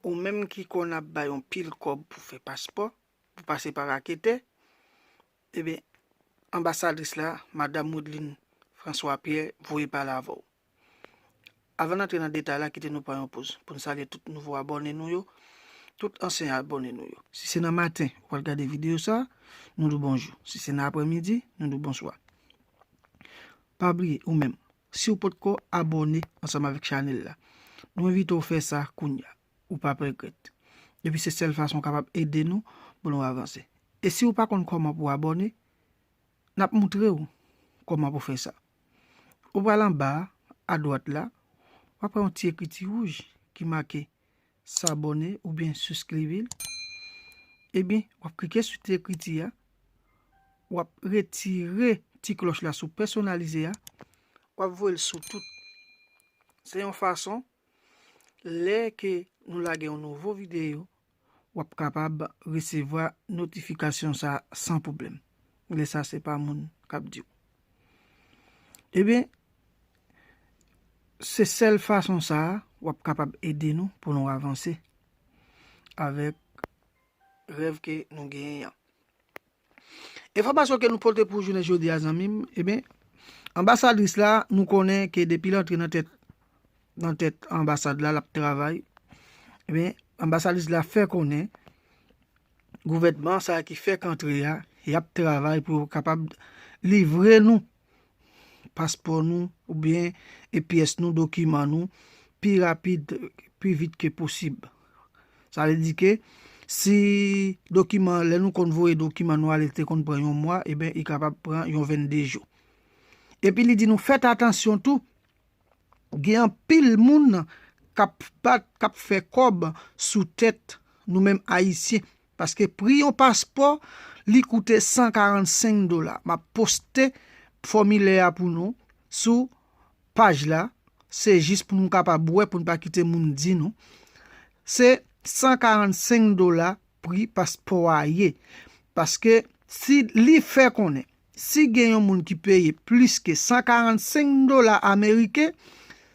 Ou menm ki konn ap bay yon pil kòb pou fè paspò, pou pase pa raketè, eben, anbasadris la, Madam Wodeline François Pierre, voye pale avè w. Avan n antre nan detay la, kite nou pran yon poz, pou n salye tout nouvo abòne nou yo, tout ansyen abòne nou yo. Si se nan maten ou pral gade videyo sa, nou di w bonjou. Si se nan apremidi, nou di w bonswa. Pa bliye, ou menm, Siw potko abòne ansanm avèk chanèl la nou envite w fè sa kounya ou pap regrèt epi se sèl fason w kapab ede nou pou nou avanse e siw pa konn kòman pou abòne nap moutrew kòman pou fè sa ou pral anba a dwat la wap wè yon ti ekriti wouj ki make S'abone oubyen siskrive l. Ebyen wap klike sou ti ekriti a. Wap retire ti kloch la sou pèsonalize a. Wap voye l sou tout. Se yon fason lè ke nou lage yon nouvo videyo wap kapab resevwa notifikasyon sa san pwoblèm. Lè sa se pa moun kap diw. Ebyen, se sèl fason sa a w ap kapab ede nou pou nou avanse avèk rèv ke nou genyen an. Enfòmasyon ke nou pote pou jounen jodi a zanmi m, ebyen, anbasadris la nou konnen ke depi l antre nan tèt nan tèt anbasad la l ap travay, ebyen, anbasadris la fè konnen Gouvènman sa ki fèk antre a yap travay pou yo kapab livre nou paspò nou oubyen epyès nou dokiman nou pi rapid pi vit ke posib sa vle di ke si dokiman lè nou konn voye dokiman nou ale te konn pran yon mwa eben li kapab pran yon 22 jou epi li di nou fèt atansyon tou Gen anpil moun kap bat kap fè kòb sou tèt nou menm ayisyen paske pri yon paspò li koute 145 dola map poste fòmilè a pou nou sou paj la se jis pou nou kapab wè pou nou pa kite moun di nou se 145 dola pri paspò a ye paske si li fè konnen Si gen yon moun ki peye plis ke 145 dola ameriken,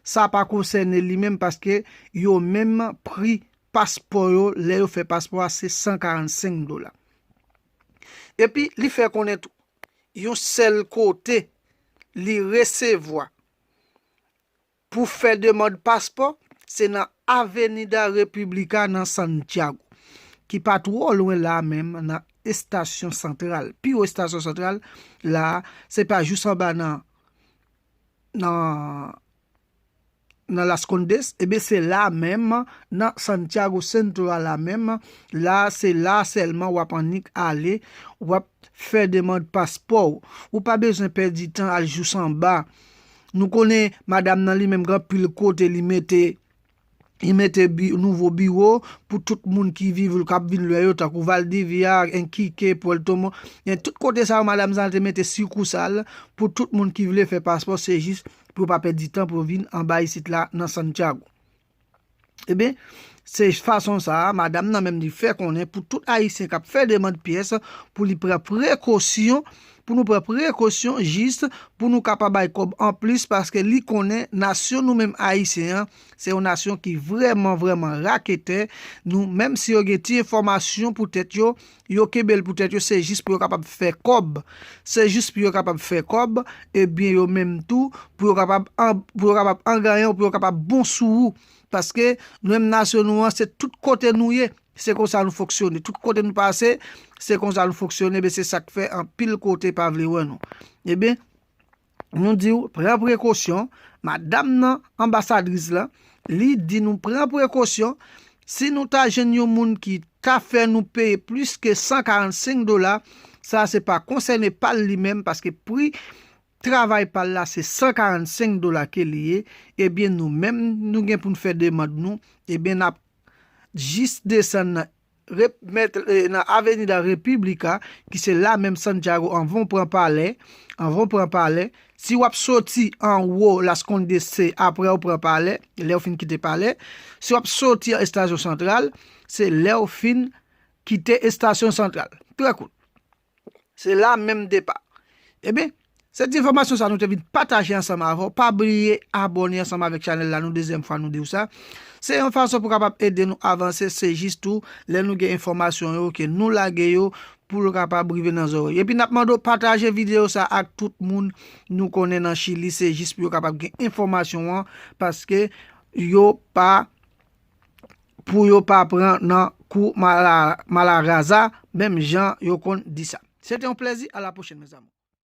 sa pa konsène li menm paske yo menm pri paspò yo lè yo fè paspò a se 145 dola. Epi li fè konnen tou, yon sèl kote li resevwa Pou fè demand paspò, se nan Avenida República nan Santiago, ki pa twò lwen la a menm nan estasyon santral, pi wo estasyon santral la a, se pa jous anba nan nan nan Las Condes, enben se la a menm nan Santiago Centro a la menm, la a se la a sèlman w ap annik ale, w ap fè demand paspò w, ou pa bezwen pèdi tan al jous anba, nou konnen madam nan li menm gen anpil kote li mete li mete nouvo biwo pou tout moun ki viv ou kap vin lwe yo tankou valdivia, enquique, puerto mon gen tout kote sa yo madam sa te mete sikursal pou tout moun ki vle fè paspò se jis pou yo pa pèdi tan pou yo vin anba isit la nan santiago. Ebyen, se fason sa a, madam nan menm li fè konnen pou tout ayisyen k ap fè demand pyès pou li pran prekosyon, pou nou pran prekosyon jis pou nou ka pa bay kòb anplis paske li konnen nasyon nou menm ayisyen an se yon nasyon ki vrèman vrèman raketè, nou menm si yo gen ti enfòmasyon pou tèt yo, Yo kenbe l pou tèt yo, se jis pou yo kapab fè kòb. Se jis pou yo kapab fè kòb, ebyen yo menm tou, pou yo kapab an ganyan ou pou yo kapab bon sou ou. Paske, nou menm nasyon nou an, se tout kote nou ye, se konsa nou fonksyone. Tout kote nou pase, se konsa nou fonksyone, ebyen se sa k fè anpil kote pa vle wè nou. Ebyen. Nou diw pran prekosyon, madam nan, anbasadris la, li di nou pran prekosyon, si nou ta jwenn yon moun ki ta fè nou peye plis ke 145 dola, sa se pa konsène pal li menm paske pri travay pal la se 145 dola ke li ye, ebyen nou menm nou gen poun fè demand nou, ebyen nap jis desann nan Rep, Mèt, nan Avenida República, ki se la menm Santiago anvan w pran palè, anvan w pran palè, si w ap soti anwo Las Condes se aprè w pran palè, lè w fin kite palè, si w ap soti an Estasion Central, se lè w fin kite Estasion Central. Trè kout. Se la menm depa. Ebyen, se ti enfòmasyon sa nou te vin pataje ansanm avè w. Pa bliye abòne ansanm avèk chanèl la nou dezyèm fwa nou di w sa. Se yon fason pou kapab ede nou avanse, se jis tou lè nou gen enfòmasyon yo ke nou lage yo pou l kapab rive nan zòrèy. Epi n ap mande w pataje videyo sa ak tout moun nou konnen nan Chili se jis pou yo kapab gen enfòmasyon an paske yo pa pou yo pa pran nan kou malaraza menm jan yo konn di sa. Se te yon plèzi, a la pwochèn mes amours.